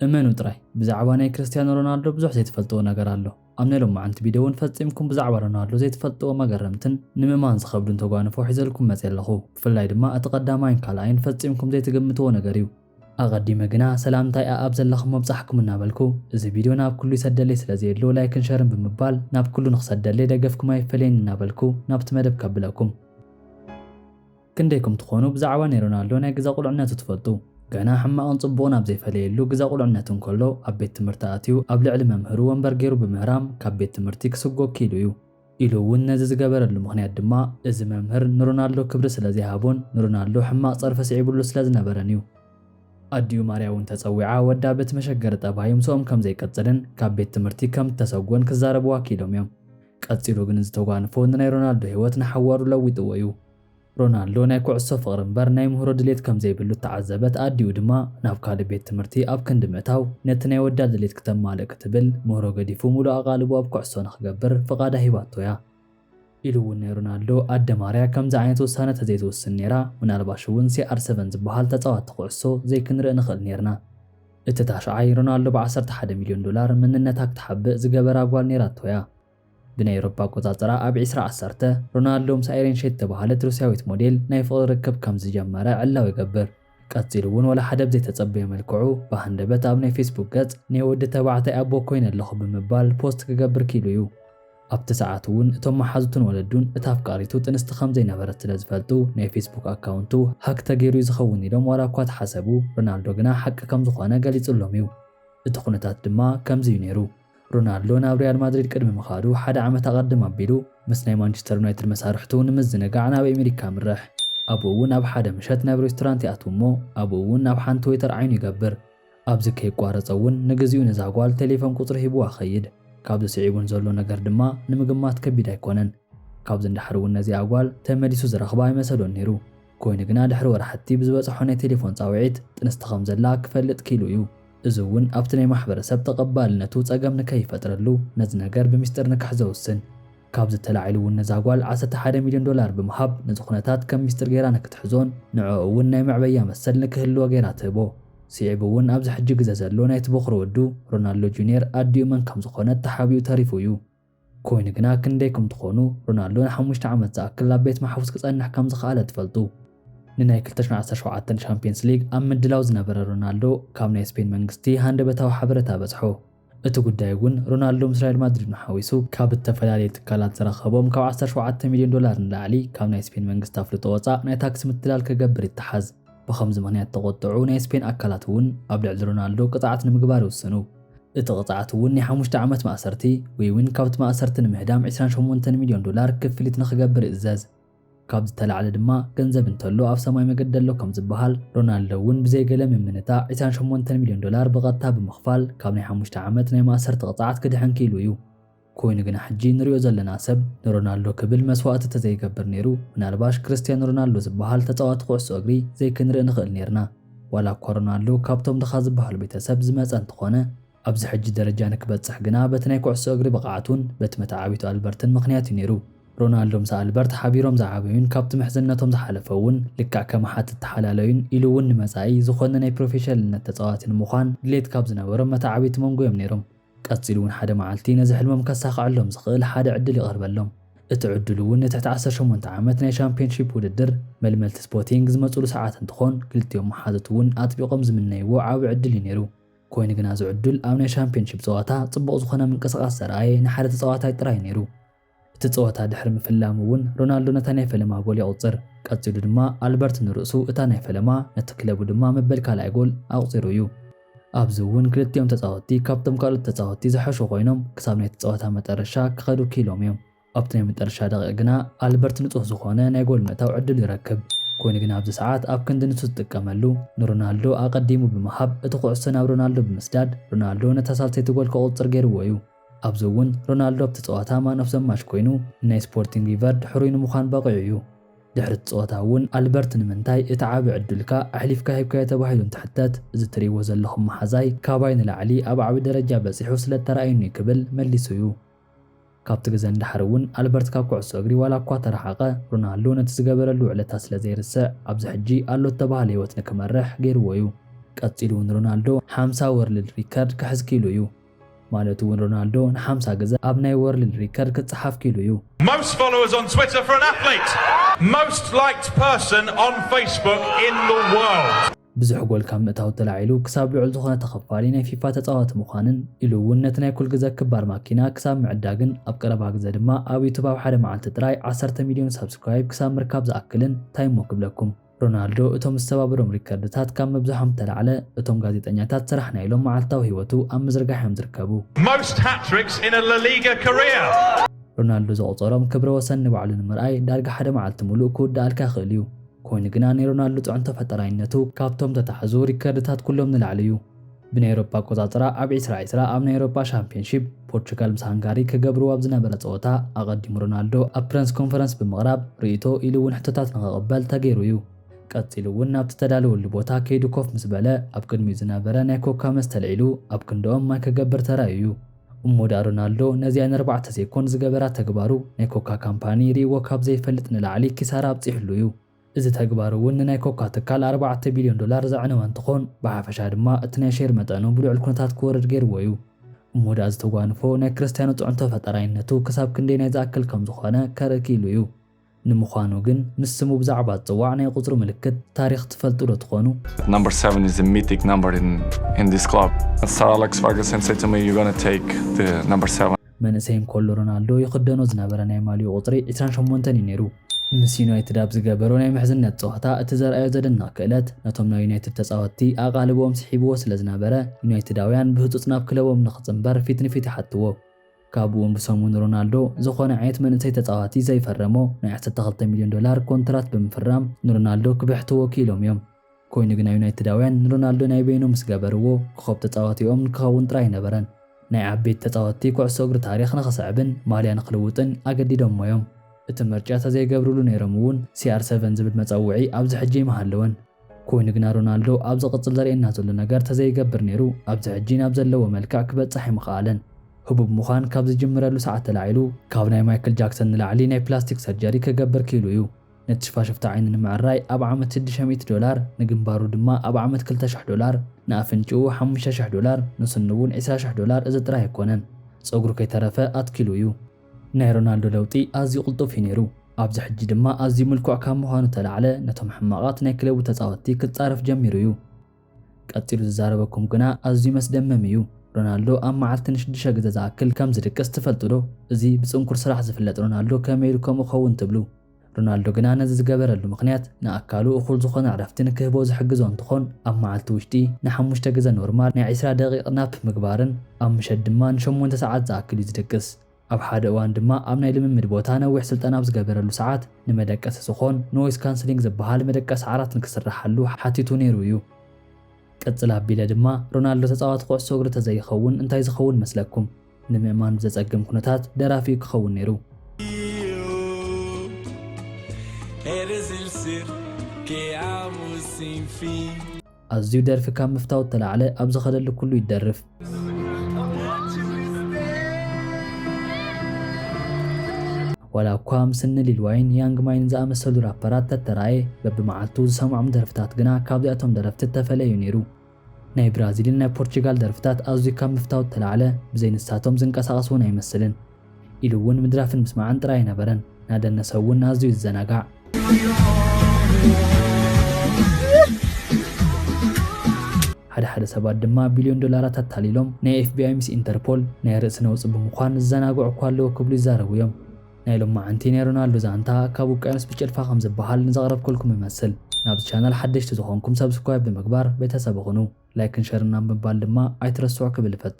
እመኑ ጥራይ ብዛዕባ ናይ ክርስትያኖ ሮናልዶ ብዙሕ ዘይትፈልጥዎ ነገር ኣሎ። ኣብ ናይ ሎማዓንቲ ቪድዮ እውን ፈጺምኩም ብዛዕባ ሮናልዶ ዘይትፈልጥዎ መገረምትን ንምእማን ዝኸብዱን ተጓንፎ ሒዘልኩም መጺ ኣለኹ። ብፍላይ ድማ እቲ ቀዳማይን ካልኣይን ፈጺምኩም ዘይትግምትዎ ነገር እዩ። ኣቐዲመ ግና ሰላምታይ ኣኣብ ዘለኹም ኣብጻሕኩም እናበልኩ፣ እዚ ቪድዮ ናብ ኩሉ ይሰደለይ ስለ ዘየሎ ላይክን ሸርን ብምባል ናብ ኩሉ ንኽሰደለይ ደገፍኩም ኣይፈለየኒ እናበልኩ ናብቲ መደብ ከብለኩም። ክንደይኩም ትኾኑ ብዛዕባ ናይ ሮናልዶ ናይ ግዘ ቁልዕነቱ ትፈልጡ? ገና ሕማቕን ጽቡቕን ኣብ ዘይፈለየሉ ግዘ ቁልዕነቱ እንከሎ ኣብ ቤት ትምህርቲ ኣትዩ ኣብ ልዕሊ መምህሩ ወንበር ገይሩ ብምህራም ካብ ቤት ትምህርቲ ክስጎግ ክኢሉ እዩ። ኢሉ እውን ነዚ ዝገበረሉ ምኽንያት ድማ እዚ መምህር ንሮናልዶ ክብሪ ስለ ዘይሃቦን ንሮናልዶ ሕማቕ ጸርፊ ስዒብሉ ስለ ዝነበረን እዩ። ኣዲኡ ማርያ እውን ተጸዊዓ ወዳ በቲ መሸገሪ ጠባዩ ምስኦም ከም ዘይቅጽልን ካብ ቤት ትምህርቲ ከም እተሰጎን ክዛረብዋ ክኢሎም እዮም። ቀጺሉ ግን እዚ ተጓንፎ ንናይ ሮናልዶ ህይወት ንሓዋሩ ለዊጥዎ እዩ። ሮናልዶ ናይ ኩዕሶ ፍቕሪ እምበር ናይ ምህሮ ድሌት ከም ዘይብሉ እተዓዘበት ኣዲኡ ድማ ናብ ካልእ ቤት ትምህርቲ ኣብ ክንዲ ምእታው ነቲ ናይ ወዳ ድሌት ክተማልእ ክትብል ምህሮ ገዲፉ ምሉእ ኣቓልቦ ኣብ ኩዕሶ ንኽገብር ፍቓዳ ሂባቶ እያ። ኢሉ እውን ናይ ሮናልዶ ኣደ ማርያ ከምዚ ዓይነት ውሳነ ተዘይትውስን ነይራ ምናልባሽ እውን ሲኣር ሰቨን ዝበሃል ተጻዋቲ ኩዕሶ ዘይክንርኢ ንኽእል ነይርና። እቲ ታሽዓይ ሮናልዶ ብ ዓሰርተ ሓደ ሚልዮን ዶላር መንነታ ክትሓብእ ዝገበራ ጓል ነይራቶ እያ። ብናይ ኤውሮፓ ኣቆጻጽራ ኣብ ዕስራ ዓሰርተ፣ ሮናልዶ ምስ ኣይሬን ሼት እተባህለት ሩስያዊት ሞዴል ናይ ፍቕሪ ርክብ ከም ዝጀመረ ዕላዊ ይገብር። ቀጺሉ እውን ዋላ ሓደ ብዘይተጸበዮ መልክዑ ብሃንደበት ኣብ ናይ ፌስቡክ ገጽ ናይ ወዲ ተባዕታይ ኣቦ ኮይነ ኣለኹ ብምባል ፖስት ክገብር ክኢሉ እዩ። ኣብቲ ሰዓት እውን እቶም መሓዙቱን ወለዱን እታ ኣፍቃሪቱ ጥንስቲ ከም ዘይነበረት ስለ ዝፈልጡ ናይ ፌስቡክ ኣካውንቱ ሃክ ተገይሩ እዩ ዝኸውን ኢሎም ዋላ እኳ ተሓሰቡ፣ ሮናልዶ ግና ሓቂ ከም ዝኾነ ገሊጽሎም እዩ። እቲ ኩነታት ድማ ከምዚ እዩ ነይሩ። ሮናልዶ ናብ ሪያል ማድሪድ ቅድሚ ምኻዱ ሓደ ዓመት ኣቐድም ኣቢሉ ምስ ናይ ማንቸስተር ዩናይትድ መሳርሕቱ ንምዝንጋዕ ናብ ኣሜሪካ ኣምርሕ። ኣብኡ እውን ኣብ ሓደ ምሸት ናብ ሬስቶራንት ይኣትው እሞ ኣብኡ እውን ናብ ሓንቲ ዌተር ዓይኑ ይገብር። ኣብዚ ከይቋረጸ እውን ንግዚኡ ነዛ ጓል ቴሌፎን ቁጽሪ ሂቡዋ ይኸይድ። ካብዚ ስዒቡ ንዘሎ ነገር ድማ ንምግማት ከቢድ ኣይኮነን። ካብዚ ንደሓር እውን ነዚኣ ጓል ተመሊሱ ዝረኽባ ኣይመሰሎን ነይሩ። ኮይኑ ግና ድሕሪ ወራሕቲ ብዝበጸሖ ናይ ቴሌፎን ጻውዒት ጥንስቲ ከም ዘላ ክፈልጥ ኪኢሉ እዩ። እዚ እውን ኣብቲ ናይ ማሕበረሰብ ተቐባልነቱ ጸገም ንከይፈጥረሉ ነዚ ነገር ብሚስጥር ንክሕ ዘውስን። ካብዚ ተላዒሉ እውን ነዛ ጓል ዓሰርተ ሓደ ሚልዮን ዶላር ብምሃብ ነዚ ኩነታት ከም ሚስጥር ገይራ ንክትሕዞን ንዕኡ እውን ናይ መዕበያ መሰል ንክህልዎ ገይራ ትህቦ። ስዒቡ እውን ኣብዚ ሕጂ ግዘ ዘሎ ናይቲ ቦኽሪ ወዱ ሮናልዶ ጁንየር ኣዲኡ መን ከም ዝኾነት ተሓቢኡ ተሪፉ እዩ። ኮይኑ ግና ክንደይኩም ትኾኑ ሮናልዶ ንሓሙሽተ ዓመት ዝኣክል ኣብ ቤት ማሕቡስ ክጸንሕ ከም ዝኸኣለ ትፈልጡ? ንናይ ክልተ ሽሕን ዓሰርተ ሸውዓተን ሻምፕዮንስ ሊግ ኣብ ምድላው ዝነበረ ሮናልዶ ካብ ናይ ስፔን መንግስቲ ሃንደበታዊ ሓበረታ በጽሖ። እቲ ጉዳይ እውን ሮናልዶ ምስ ሪያል ማድሪድን ሓዊሱ ካብ እተፈላለየ ትካላት ዝረኸቦም ካብ ዓሰርተ ሸውዓተ ሚልዮን ዶላር ንላዕሊ ካብ ናይ ስፔን መንግስቲ ኣፍልጦ ወጻእ ናይ ታክሲ ምትላል ክገብር ይተሓዝ። ብኸምዚ ምኽንያት እተቖጥዑ ናይ ስፔን ኣካላት እውን ኣብ ልዕሊ ሮናልዶ ቅጽዓት ንምግባር ይውስኑ። እቲ ቅፅዓት እውን ናይ ሓሙሽተ ዓመት ማእሰርቲ ወይውን ካብቲ ማእሰርቲ ንምህዳም ዕስራን ሸሞንተን ሚልዮን ዶላር ክፍሊት ንኽገብር ይእዘዝ። ካብዚ ዝተላዕለ ድማ ገንዘብ እንተሎ ኣብ ሰማይ መገዲ ኣሎ ከምዝበሃል ሮናልዶ እውን ብዘይ ገለ ምምንታዕ ዕስራን ሸሞንተን ሚልዮን ዶላር ብቐጥታ ብምኽፋል ካብ ናይ ሓሙሽተ ዓመት ናይ ማእሰርቲ ቅፅዓት ክድሕን ክኢሉ እዩ። ኮይኑ ግና ሕጂ ንሪኦ ዘለና ሰብ ንሮናልዶ ክብል መስዋእቲ ተዘይገብር ነይሩ ምናልባሽ ክርስትያን ሮናልዶ ዝብሃል ተጻዋቲ ኩዕሶ እግሪ ዘይክንርኢ ንኽእል ነይርና። ዋላ እኳ ሮናልዶ ካብቶም ድኻ ዝብሃሉ ቤተሰብ ዝመጸ እንተኾነ፣ ኣብዚ ሕጂ ደረጃ ንክበጽሕ ግና በቲ ናይ ኩዕሶ እግሪ ብቕዓቱን በቲ መተዓቢቱ ኣልበርትን ምኽንያት እዩ ነይሩ። ሮናልዶ ምስ ኣልበርት ሓቢሮም ዝዓበዩን ካብቲ ምሕዝነቶም ዝሓለፈ እውን ልክዕ ከም ኣሓት ዝተሓላለዩን ኢሉ እውን ንመጻኢ ዝኾነ ናይ ፕሮፌሸልነት ተጻዋቲ ንምዃን ድሌት ካብ ዝነበሮም መተዓቢቲ መንጎ እዮም ነይሮም። ቀጺሉ እውን ሓደ መዓልቲ ነዚ ሕልሞም ከሳኽዐሎም ዝኽእል ሓደ ዕድል ይቐርበሎም። እቲ ዕድሉ እውን ንትሕቲ ዓሰርተ ሸሞንተ ዓመት ናይ ሻምፕዮንሺፕ ውድድር መልመልቲ ስፖቲንግ ዝመጹሉ ሰዓት እንትኾን ክልቲኦም መሓዙት እውን ኣጥቢቖም ዝምነይዎ ዓቢ ዕድል እዩ ነይሩ። ኮይኑ ግና እዚ ዕዱል ኣብ ናይ ሻምፕዮንሺፕ ጸዋታ ጽቡቕ ዝኾነ ምንቅስቓስ ዘርኣየ ንሓደ ተጻዋታይ ጥራይ እዩ ነይሩ። እቲ ጸወታ ድሕሪ ምፍላሙ እውን ሮናልዶ ነታ ናይ ፈለማ ጎል የቑጽር። ቀጺሉ ድማ ኣልበርት ንርእሱ እታ ናይ ፈለማ ነቲ ክለቡ ድማ መበል ካልኣይ ጎል ኣቑጺሩ እዩ። ኣብዚ እውን ክልቲኦም ተጻወትቲ ካብቶም ካልኦት ተጻወትቲ ዝሐሹ ኮይኖም ክሳብ ናይቲ ጸወታ መጠረሻ ክኸዱ ክኢሎም እዮም። ኣብቲ ናይ መጠረሻ ደቒቕ ግና ኣልበርት ንጹህ ዝኾነ ናይ ጎል ምእታው ዕድል ይረክብ። ኮይኑ ግና ኣብዚ ሰዓት ኣብ ክንዲ ንሱ ዝጥቀመሉ ንሮናልዶ ኣቐዲሙ ብምሃብ እቲ ኩዕሶ ናብ ሮናልዶ ብምስዳድ ሮናልዶ ነታ ሳልሰይቲ ጎል ከቑጽር ገይርዎ እዩ። ኣብዚ እውን ሮናልዶ ኣብቲ ፀዋታ ማን ኦፍ ዘ ማች ኮይኑ ንናይ ስፖርቲንግ ቪቨርድ ሕሩይ ንምዃን በቒዑ እዩ። ድሕሪ እቲ ፀወታ እውን ኣልበርት ንምንታይ እቲ ዓቢ ዕድልካ ኣሕሊፍካ ሂብካዮ ተባሂሉ እንትሕተት እዚ ትሪእዎ ዘለኹም መሓዛይ ካባይ ንላዕሊ ኣብ ዓቢ ደረጃ በፂሑ ስለ እተራእየኒ'ዩ ክብል መሊሱ እዩ። ካብቲ ግዘ ንደሓር እውን ኣልበርት ካብ ኩዕሶ እግሪ ዋላ እኳ ተረሓቐ ሮናልዶ ነቲ ዝገበረሉ ውዕለታ ስለ ዘይርስዕ ኣብዚ ሕጂ ኣሎ እተባህለ ህይወት ንክመርሕ ገይርዎ እዩ። ቀፂሉ እውን ሮናልዶ ሓምሳ ወርልድ ሪከርድ ክሕዝ ክኢሉ እዩ። ማለት እውን ሮናልዶ ንሓምሳ ግዘ ኣብ ናይ ወርልድ ሪከርድ ክፀሓፍ ክኢሉ እዩ። Most followers on Twitter for an athlete! Most liked person on Facebook in the world! ብዙሕ ጎል ካብ ምእታው ተላዒሉ ክሳብ ልዑል ዝኾነ ተኸፋሊ ናይ ፊፋ ተፃዋቲ ምዃንን ኢሉ እውን ነቲ ናይ ኩል ግዘ ክባር ማኪና ክሳብ ምዕዳግን ኣብ ቀረባ ግዘ ድማ ኣብ ዩቱብ ኣብ ሓደ መዓልቲ ጥራይ ዓሰርተ ሚልዮን ሳብስክራይብ ክሳብ ምርካብ ዝኣክልን ታይ እሞ ክብለኩም ሮናልዶ እቶም ዝተባብሮም ሪከርድታት ካብ ምብዛሖም ዝተላዕለ እቶም ጋዜጠኛታት ስራሕ ናይ ኢሎም መዓልታዊ ህይወቱ ኣብ ምዝርጋሕ እዮም ዝርከቡ። Most hat-tricks in a La Liga career! ሮናልዶ ዘቑጸሮም ክብረ ወሰን ንባዕሉ ንምርኣይ ዳርጋ ሓደ መዓልቲ ምሉእ ክውድኣልካ ይኽእል እዩ። ኮይኑ ግና ናይ ሮናልዶ ጽዕንቶ ፈጠራይነቱ ካብቶም ዝተታሕዙ ሪከርድታት ኩሎም ንላዕሊ እዩ። ብናይ ኤውሮጳ ኣቆጻጽራ ኣብ ዕስራ ዕስራ ኣብ ናይ ኤውሮጳ ሻምፕዮንሺፕ ፖርቹጋል ምስ ሃንጋሪ ክገብርዎ ኣብ ዝነበረ ጸወታ ኣቐዲሙ ሮናልዶ ኣብ ፕረንስ ኮንፈረንስ ብምቕራብ ርእይቶ ኢሉ እውን ሕቶታት ንኽቕበል ተገይሩ እዩ። ቀጺሉ እውን ናብቲ ዝተዳለወሉ ቦታ ከይዱ ኮፍ ምስ በለ ኣብ ቅድሚኡ ዝነበረ ናይ ኮካ መስተ ኣልዒሉ ኣብ ክንድኦም ማይ ክገብር ተራእዩ እዩ። እሞ ድኣ ሮናልዶ ነዚኣ ንኣርባዕተ ሴኮንድ ዝገበራ ተግባሩ ናይ ኮካ ካምፓኒ ርእይዎ ካብ ዘይፈልጥ ንላዕሊ ኪሳራ ኣብጺሑሉ እዩ። እዚ ተግባር እውን ንናይ ኮካ ትካል ኣርባዕተ ቢልዮን ዶላር ዘዕነወ እንትኾን ብሓፈሻ ድማ እቲ ናይ ሼር መጠኑ ብልዑል ኩነታት ክወርድ ገይርዎ እዩ። እሞ ድኣ እዚ ተጓንፎ ናይ ክርስትያኖ ፅዕንቶ ፈጣራይነቱ ክሳብ ክንደይ ናይ ዝኣክል ከም ዝኾነ ከርኢ ክኢሉ እዩ። ንምዃኑ ግን ምስ ስሙ ብዛዕባ ዝፅዋዕ ናይ ቁፅሪ ምልክት ታሪኽ ትፈልጡ ዶ ትኾኑ? But number seven is a mythic number in in this club. Sir Alex Ferguson said to me, You're gonna take the number seven. መንእሰይ እንከሎ ሮናልዶ ይኽደኖ ዝነበረ ናይ ማልይኡ ቁጽሪ ዕስራን ሸሞንተን እዩ ነይሩ። ምስ ዩናይትድ ኣብ ዝገበሮ ናይ ምሕዝነት ጸወታ እቲ ዘርኣዮ ዘደንቕ ክእለት ነቶም ናይ ዩናይትድ ተጻወትቲ ኣቓልቦኦም ስሒብዎ ስለ ዝነበረ ዩናይትዳውያን ብህጹጽ ናብ ክለቦም ንኽጽንበር ፊት ንፊት ይሓትዎ። ካብኡ'ውን ብሰሙን ሮናልዶ ዝኾነ ዓይነት መንእሰይ ተጻዋቲ ዘይፈረሞ ናይ ዓሰርተ ክልተ ሚልዮን ዶላር ኮንትራት ብምፍራም ንሮናልዶ ክብሕትዎ ክኢሎም እዮም። ኮይኑ ግና ዩናይትዳውያን ንሮናልዶ ናይ በይኖም ምስ ገበርዎ፣ ኮኾብ ተጻዋቲኦም ንክኸውን ጥራይ ኣይነበረን፣ ናይ ዓበይቲ ተጻወትቲ ኩዕሶ እግሪ ታሪኽ ንክስዕብን ማልያ ንክልውጥን ኣገዲዶሞ እዮም። እቲ ምርጫ ተዘይገብርሉ ነይሮም እውን ሲኣር ሰቨን ዝብል መጸውዒ ኣብዚ ሕጂ ምሃለወን። ኮይኑ ግና ሮናልዶ ኣብ ዝቕጽል ዘርእየና ዘሎ ነገር ተዘይገብር ነይሩ ኣብዚ ሕጂ ናብ ዘለዎ መልክዕ ክበጽሕ ኣይምኸኣለን። ህቡብ ምዃን ካብ ዝጅምረሉ ሰዓት ተላዒሉ፣ ካብ ናይ ማይክል ጃክሰን ንላዕሊ ናይ ፕላስቲክ ሰርጀሪ ክገብር ክኢሉ እዩ። ነቲ ሽፋሽፍታ ዓይኒ ንምዕራይ ኣብ ዓመት ሽዱሽተ ሚእቲ ዶላር፣ ንግንባሩ ድማ ኣብ ዓመት ክልተ ሽሕ ዶላር፣ ንኣፍንጭኡ ሓሙሽተ ሽሕ ዶላር፣ ንስኑ እውን ዕስራ ሽሕ ዶላር እዚ ጥራይ ኣይኮነን ጸጉሩ ከይተረፈ ኣትኪሉ እዩ። ናይ ሮናልዶ ለውጢ ኣዝዩ ቅልጡፍ እዩ ነይሩ፣ ኣብዚ ሕጂ ድማ ኣዝዩ ምልኩዕ ካብ ምዃኑ እተላዕለ ነቶም ሕማቓት ናይ ክለቡ ተጻወትቲ ክጻረፍ ጀሚሩ እዩ። ቀጺሉ ዝዛረበኩም ግና ኣዝዩ መስደመም እዩ። ሮናልዶ ኣብ መዓልቲ ንሽዱሸ ግዘ ዝኣክል ከም ዝድቅስ ትፈልጡ ዶ? እዚ ብጽንኩር ስራሕ ዝፍለጥ ሮናልዶ ከመይ ኢሉ ከምኡ ክኸውን ትብሉ? ሮናልዶ ግና ነዚ ዝገበረሉ ምኽንያት ንኣካሉ እኹል ዝኾነ ዕረፍቲ ንክህቦ ዝሕግዞ እንትኾን ኣብ መዓልቲ ውሽጢ ንሓሙሽተ ግዘ ኖርማል ናይ ዕስራ ደቒቕ ናፕ ምግባርን ኣብ ምሸት ድማ ንሸሞንተ ሰዓት ዝኣክል እዩ ዝድቅስ። ኣብ ሓደ እዋን ድማ ኣብ ናይ ልምምድ ቦታ ነዊሕ ስልጠና ኣብ ዝገበረሉ ሰዓት ንመደቀሲ ዝኾን Noise Cancelling ዝበሃል መደቀሲ ዓራት ንክስረሓሉ ሓቲቱ ነይሩ እዩ። ቅጽል ኣቢለ ድማ ሮናልዶ ተጻዋቲ ኩዕሶ እግሪ ተዘይኸውን እንታይ ዝኸውን መስለኩም? ንምእማን ብዘጸግም ኩነታት ደራፊ እዩ ክኸውን ነይሩ። Eres el ser que amo sin fin. ኣዝዩ ደርፊ ካብ ምፍታው እተላዕለ ኣብ ዝኸደሉ ኩሉ ይደርፍ። ዋላ እኳ ምስ እኒ ሊል ዋይን፣ ያንግ ማይን ዝኣመሰሉ ራፐራት ተተራእየ፣ በብመዓልቱ ዝሰምዖም ደርፍታት ግና ካብዚኣቶም ደረፍቲ እተፈለየ እዩ ነይሩ። ናይ ብራዚልን ናይ ፖርቹጋል ደርፍታት ኣዝዩ ካብ ምፍታው እተላዕለ ብዘይ ንሳቶም ዝንቀሳቐስ እውን ኣይመስልን። ኢሉ እውን ምድራፍን ምስማዕን ጥራይ ኣይነበረን፣ እናደነሰ እውን ኣዝዩ ይዘናጋዕ። ሓደ ሓደ ሰባት ድማ ቢልዮን ዶላራት ኣታሊሎም ናይ ኤፍቢኣይ ምስ ኢንተርፖል ናይ ርእሲ ነውፂ ብምዃን ዝዘናግዑ እኳ ኣለዉ ክብሉ ይዛረቡ እዮም። ናይ ሎማዓንቲ ናይ ሮናልዶ ዛንታ ካብ ውቅያኖስ ብጭልፋ ከም ዝበሃል ንዘቕረብኩልኩም እመስል። ናብዚ ቻናል ሓደሽቲ ዝኾንኩም ሰብስክራይብ ብምግባር ቤተሰብ ኹኑ። ላይክን ሸርን ኣብ ምባል ድማ ኣይትረስዑ ክብል እፈቱ።